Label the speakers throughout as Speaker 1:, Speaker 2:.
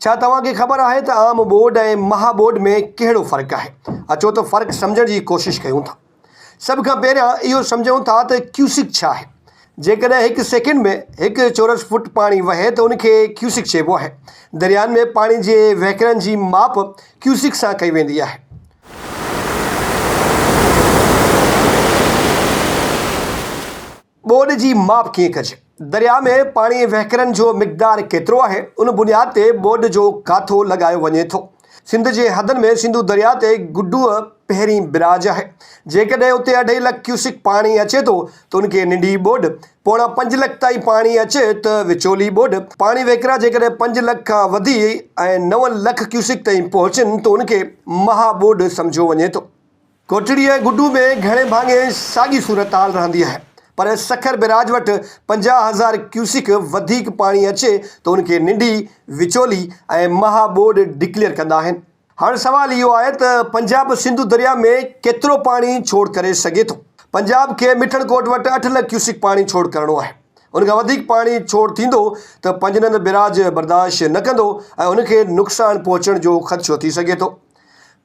Speaker 1: ڇا توهان کي خبر آهي ته عام ٻوڏ ۽ مها ٻوڏ ۾ ڪهڙو فرق آهي؟ اچو ته فرق سمجهڻ جي ڪوشش ڪيون ٿا. سڀ کان پهريان اهو سمجهون ٿا ته ڪيوسڪ ڇا آهي؟ جيڪڏهن هڪ سيڪنڊ ۾ هڪ چورس فوٽ پاڻي وهي ته ان کي ڪيوسڪ چئبو آهي. دريائن ۾ پاڻي جي وهڪرن جي ماپ ڪيوسڪ سان ڪئي ويندي آهي. ٻوڏ جي ماپ ڪيئن ڪجي، درياهه ۾ پاڻي وهڪرن جو مقدار ڪيترو آهي، ان بنياد تي ٻوڏ جو ڪاٿو لڳايو وڃي ٿو. سنڌ جي حدن ۾ سنڌو درياهه تي گڊوء پهرين براج آهي. جيڪڏهن اتي اڍائي لک ڪيوسڪ پاڻي اچي ٿو ته ان کي ننڍي ٻوڏ، پوڻا پنج لک تائين پاڻي اچي ته وچولي ٻوڏ، پاڻي وهڪرا جيڪڏهن پنج لک کان وڌي ۽ نو لک ڪيوسڪ تائين پهچن ته ان کي مها ٻوڏ سمجهيو وڃي ٿو. ڪوٽڙي ۽ گڊو ۾ گهڻي ڀاڱي ساڳي صورتحال رهندي آهي پر سکر بئراج وٽ پنجاهه هزار ڪيوسڪ وڌيڪ پاڻي اچي ته ان کي ننڊي، وچولي ۽ مها ٻوڏ ڊڪليئر ڪندا آهن. هاڻ سوال اهو آهي ته پنجاب سنڌو درياء ۾ ڪيترو پاڻي ڇوڙ ڪري سگهي ٿو؟ پنجاب کي مٺڻ ڪوٽ وٽ اٺ لک ڪيوسڪ پاڻي ڇوڙ ڪرڻو آهي. ان کان وڌيڪ پاڻي ڇوڙ ٿيندو ته پنجنند بئراج برداشت نه ڪندو ۽ ان کي نقصان پهچڻ جو خدشو ٿي سگهي ٿو.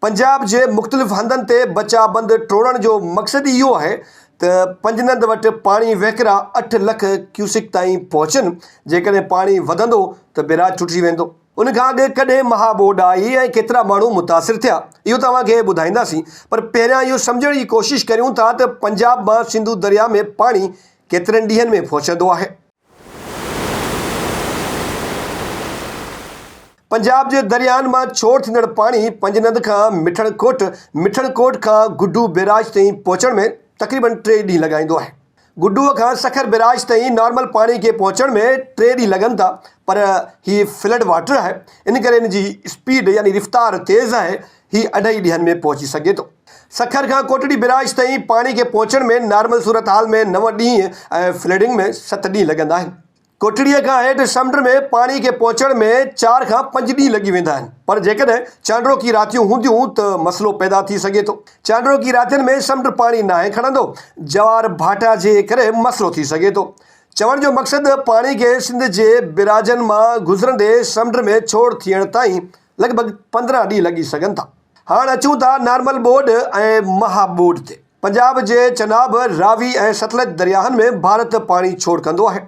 Speaker 1: پنجاب جي مختلف هنڌن تي بچاء بند ٽوڙڻ جو مقصد ئي اهو آهي ته پنجنند وٽ پاڻي وهڪرا اٺ لک ڪيوسڪ تائين پهچن، جيڪڏهن پاڻي وڌندو ته بئراج ٽٽجي ويندو. ان کان اڳ ڪڏهن مها ٻوڏ آئي ۽ ڪيترا ماڻهو متاثر ٿيا، اهو توهان کي ٻڌائينداسين، پر پهريان اهو سمجهڻ جي ڪوشش ڪريون ٿا ته پنجاب مان سنڌو درياهه ۾ پاڻي ڪيترن ڏينهن ۾ پهچندو آهي. پنجاب جي درياهن مان ڇوڙ ٿيندڙ پاڻي پنجند کان مٺڻ ڪوٽ، مٺڻ ڪوٽ کان گڊو بيراج تائين پهچڻ ۾ تقريبن ٽي ڏينهن لڳائيندو آهي. گڊوء کان سکر بيراج تائين نارمل پاڻي کي پهچڻ ۾ ٽي ڏينهن لڳن ٿا پر هي فلڊ واٽر آهي ان ڪري ان جي اسپيڊ يعني رفتار تيز آهي هي اڍائي ڏينهن ۾ پهچي سگهي ٿو. سکر کان ڪوٽڙي بئراج تائين پاڻي کي پهچڻ ۾ نارمل صورتحال ۾ نو ڏينهن ۽ فلڊنگ ۾ ست ڏينهن لڳندا آهن. ڪوٽڙيء کان هيٺ سمنڊ ۾ پاڻي کي پهچڻ ۾ چار کان پنج ڏينهن لڳي ويندا آهن پر جيڪڏهن چانڊروڪي راتيون هونديون ته مسئلو پيدا ٿي سگهي ٿو. چانڊروڪي راتين ۾ سمنڊ پاڻي ناهي کڻندو، جوار ڀاٽا جي ڪري مسئلو ٿي سگهي ٿو. چوڻ جو مقصد پاڻي کي سنڌ جي بئراجن مان گذرندي سمنڊ ۾ ڇوڙ ٿيڻ تائين لڳ ڀڳ پندرهن ڏينهن لڳي سگهن ٿا. هاڻ اچون ٿا نارمل ٻوڏ ۽ مها ٻوڏ تي. پنجاب جي چناب، راوي ۽ ستلج درياهن ۾ ڀارت پاڻي ڇوڙ ڪندو آهي.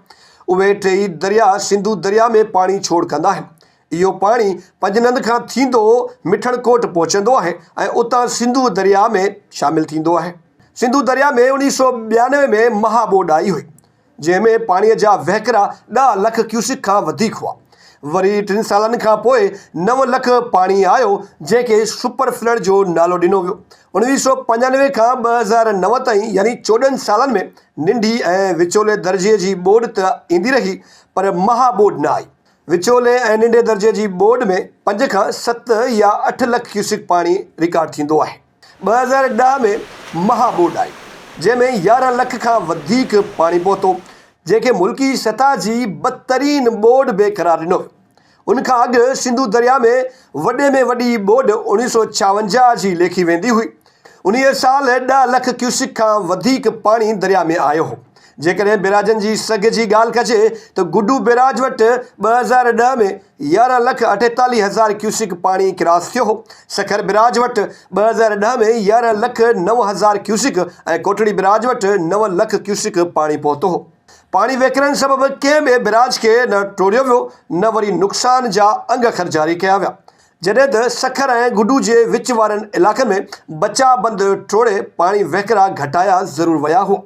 Speaker 1: اهي ٽيئي درياء سنڌو درياء ۾ پاڻي ڇوڙ ڪندا آهن. اهو پاڻي پنجنند کان ٿيندو مٺڻ ڪوٽ پهچندو آهي ۽ اتان سنڌو درياء ۾ شامل ٿيندو آهي. سنڌو درياء ۾ اڻيهه سؤ ٻيانوي ۾ مها ٻوڏ آئي هئي. جنهن ۾ پاڻي جا وهڪرا ڏهه لک ڪيوسڪ کان وڌيڪ هئا. وري ٽن سالن کان پوء نو لک پاڻي آيو، جنهن کي سپر فلڊ جو نالو ڏنو ويو. اڻويهه سؤ پنجانوي کان ٻه هزار نو تائين يعني چوڏهن سالن ۾ ننڍي ۽ وچولي درجي جي ٻوڏ ته ايندي رهي پر مها ٻوڏ نه آئي. وچولي ۽ ننڍي درجي جي ٻوڏ ۾ پنج کان ست يا اٺ لک ڪيوسڪ پاڻي رڪارڊ ٿيندو آهي. ٻه هزار ڏهه ۾ مها ٻوڏ آئي، جنهن ۾ يارهن لک کان وڌيڪ پاڻي پهتو، جنهن کي ملڪي سطح جي بدترين ٻوڏ به قرار ڏنو ويو. ان کان اڳ سنڌو درياء ۾ وڏي ۾ وڏي ٻوڏ اڻويهه سؤ ڇاونجاهه جي ليکي ويندي هئي. انهيء سال ڏهه لک ڪيوسڪ کان وڌيڪ پاڻي درياء ۾ آيو هو. جيڪڏهن بيراجن جي سگهه جي ڳالهه ڪجي ته گڊو بيراج وٽ ٻه هزار ڏهه ۾ يارهن لک اٺيتاليهه هزار ڪيوسڪ پاڻي ڪراس ٿيو هو، سکر بيراج وٽ ٻه هزار ڏهه ۾ يارهن لک نو هزار ڪيوسڪ ۽ ڪوٽڙي بيراج وٽ نو لک ڪيوسڪ پاڻي پهتو هو. پاڻي وهڪرن سبب ڪنهن به بيراج کي نه ٽوڙيو ويو نه وري نقصان جا انگ خر جاري ڪيا ويا جڏهن ته سکر ۽ گڊو جي وچ وارن علائقن ۾ بچاء بند ٽوڙي پاڻي وهڪرا گهٽايا ضرور ويا هئا.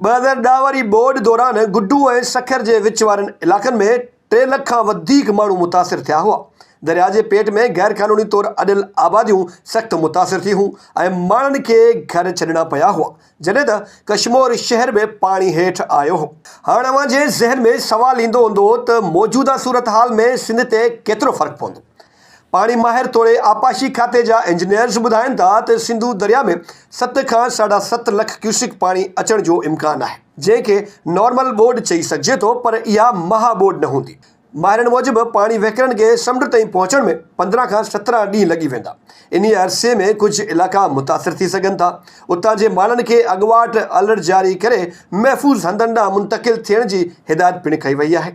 Speaker 1: ٻه هزار ڏهه واري ٻوڏ دوران گڊو ۽ سکر جي وچ وارن علائقن ۾ ٽي لک کان وڌيڪ ماڻهو متاثر ٿيا هئا. درياء جي پيٽ ۾ غير قانوني طور اڏيل آباديون سخت متاثر ٿي هيون ۽ ماڻهن کي گهر ڇڏڻا پيا هئا، جڏهن ته ڪشمور شهر به پاڻي هيٺ آيو هو. هاڻ اوهان جي ذهن ۾ سوال ايندو هوندو ته موجوده صورتحال ۾ سنڌ تي ڪيترو فرق پوندو؟ پاڻي ماهر توڙي آبپاشي کاتي جا انجنيئرز ٻڌائين ٿا ته سنڌو درياهه ۾ ست کان ساڍا ست لک ڪيوسڪ پاڻي اچڻ جو امڪان آهي جنهن کي نارمل ٻوڏ چئي سگهجي ٿو پر اها مها ٻوڏ نه هوندي. ماهرن موجب پاڻي وهڪرن کي سمنڊ تائين پهچڻ ۾ پندرهن کان سترهن ڏينهن لڳي ويندا انهي عرصي ۾ ڪجهه علائقا متاثر ٿي سگهن ٿا اتان جي ماڻهن کي اڳواٽ الرٽ جاري ڪري محفوظ هنڌن ڏانهن منتقل ٿيڻ جي هدايت پڻ ڪئي وئي آهي.